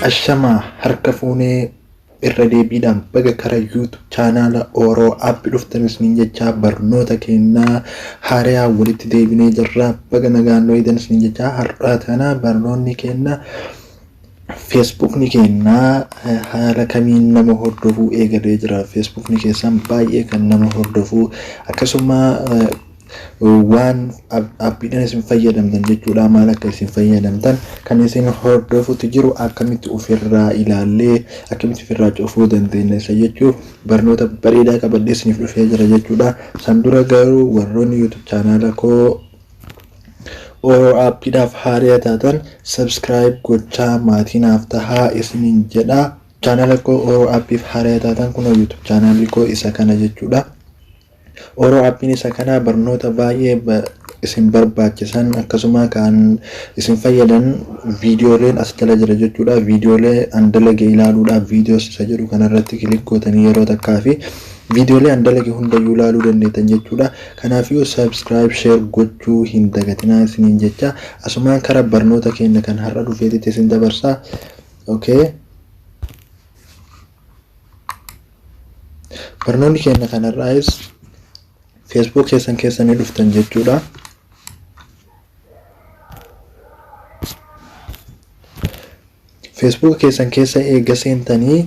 Ashamaa harka fuunee irra deebiidhaan baga kara YouTube chaanaala Oro app dhuftan isiniin jechaa barnoota kennaa haaraa walitti deebinee jirra baga nagaan nu eegdan isiniin jechaa har'aa tana barnoonni kenna Feesbuukni keenna haala kamiin nama hordofuu eegalee jira? Feesbuukni keessan baay'ee kan nama hordofuu akkasuma waan appiidhaan isin fayyadamtan jechuudha maal akka isin fayyadamtan kan isin hordofutti jiru akkamitti ofirraa ilaallee akkamitti ofirraa cufuu dandeenya isa jechuuf barnoota bareedaa qabadhee isiniif dhufee jira jechuudha. San dura garuu warroonni YouTube chaanaala koo Oro app dhaaf haariya taatan subscribe gochaa maatii naaf tahaa isinin jedhaa channel koo oro appif haariya taatan kunoo youtube channel koo isa kana jechuudha oro appin isa kana barnoota baay'ee isin barbaachisan akkasuma kan isin fayyadan viidiyooleen as jala jira jechuudha viidiyoolee an dalage ilaaluudhaaf viidiyoos isa jedhu kanarratti kilik gootanii yeroo takkaa fi viidiyoolee an dalage hundayyuu ilaaluu dandeettan jechuudha Kanaafiyuu subscribe share gochuu hin dagatinaa isiniin jechaa asumaan kara barnoota keenna kan har'a dhufeetitti isin dabarsaa ok Barnoonni keenna kan har'aayis facebook keessan keessa ni dhuftan jechuudha facebook keessan keessa eega seentanii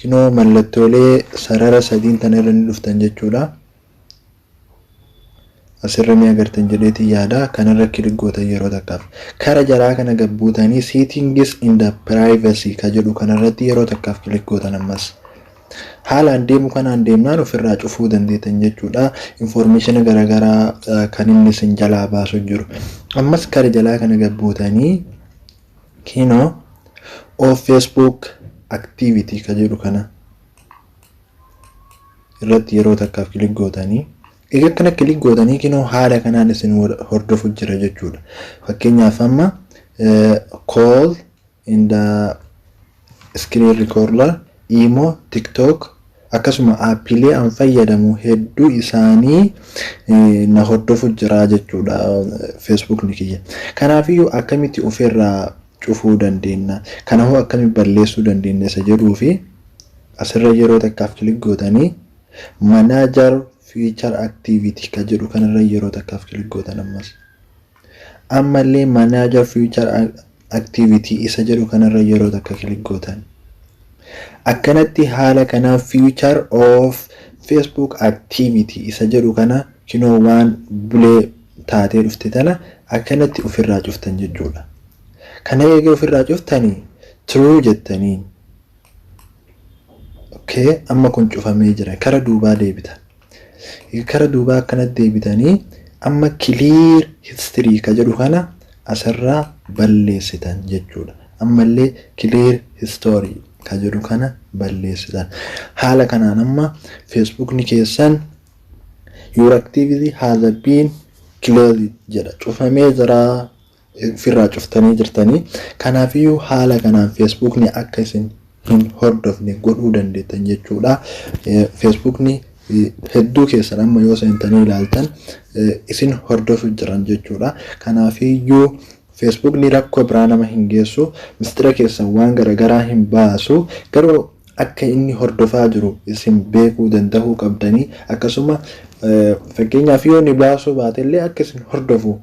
kinoo mallattoolee sarara sadiin tana irra ni dhuftan jechuudha. Asirra ni agartan jedheetiin yaada. Kanarra kilik gootan yeroo takkaaf. Kara jalaa kana gad buutanii settings in the privacy ka jedhu kanarratti yeroo takkaaf kilik gootan ammas. Haalaan deemu kanaan deemnaan ofirraa cufuu dandeetan jechuudha. Information garaagaraa kan inni isin jalaa baasu jiru. Ammas kara jalaa kana gad buutanii kiinoo of Facebook activity ka jedhu kana irratti yeroo takkaaf kilik gootanii egaa akkana kilik gootanii kinoo haala kanaan isin hordofu jira jechuudha fakkeenyaaf amma call in the screen recorder imo tiktok akkasuma aappiilee an fayyadamu hedduu isaanii na hordofu jira jechuudha feesbuukni kiyya kanaafiyyuu akkamitti ofirraa cufuu dandeennaa? Kana hoo akkamitti balleessuu dandeenya isa jedhuu fi asirra yeroo takkaaf kilik gootanii manager feature activity kan jedhu kanarra yeroo takkaaf kilik gootan ammas. Ammallee manager feature activity isa jedhu kanarra yeroo takka kilik gootan. Akkanatti haala kanaan feature of Facebook activity isa jedhu kana kinoo waan bulee taatee dhufte tana akkanatti ufirraa cuftan jechuudha. Kana eega ufirraa cuftani true jettaniin. ok amma kun cufamee jira kara duubaa deebitan. Eega kara duubaa akkanatti deebitanii amma clear history ka jedhu kana asirraa balleessitan jechuudha. Ammallee clear history ka jedhu kana balleessitan. Haala kanaan amma Facebookni keessan Your activity has been closed jedha. Cufamee jira ofirraa cuftanii jirtanii. Kanaafiyyuu haala kanaan Feesbuukni akka isin hin hordofne godhuu dandeettan jechuudha. Feesbuukni hedduu keessan amma yoo seentanii ilaaltan isin hordofu jiran jechuudha. Kanaafiyyuu Feesbuukni rakkoo biraa nama hin geessu, mistira keessan waan garagaraa hin baasu, garuu akka inni hordofaa jiru isin beekuu dandahuu qabdanii akkasuma fakkeenyaaf yoo inni baasuu baate illee akka isin hordofu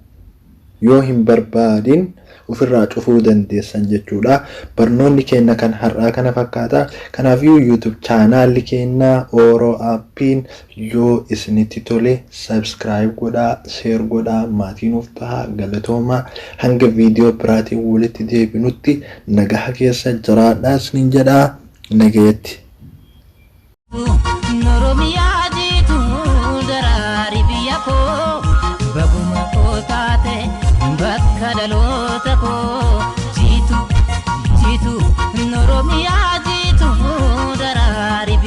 yoo hin barbaadin ofirraa cufuu dandeessan jechuudha barnoonni keenna kan har'aa kana fakkaata kanaafiyyuu youtube chaanaalli keennaa oro appiin Yoo isinitti tole subscribe godhaa share godhaa maatii nuuf tahaa galatoomaa hanga video biraatiin walitti deebinutti nagaha keessa jiraadhaa isiniin jedha nagayatti. Oromiyaa jiituu daraari biyya koo baguma koo taate bakka dhaloota koo jiitu jiitu Oromiyaa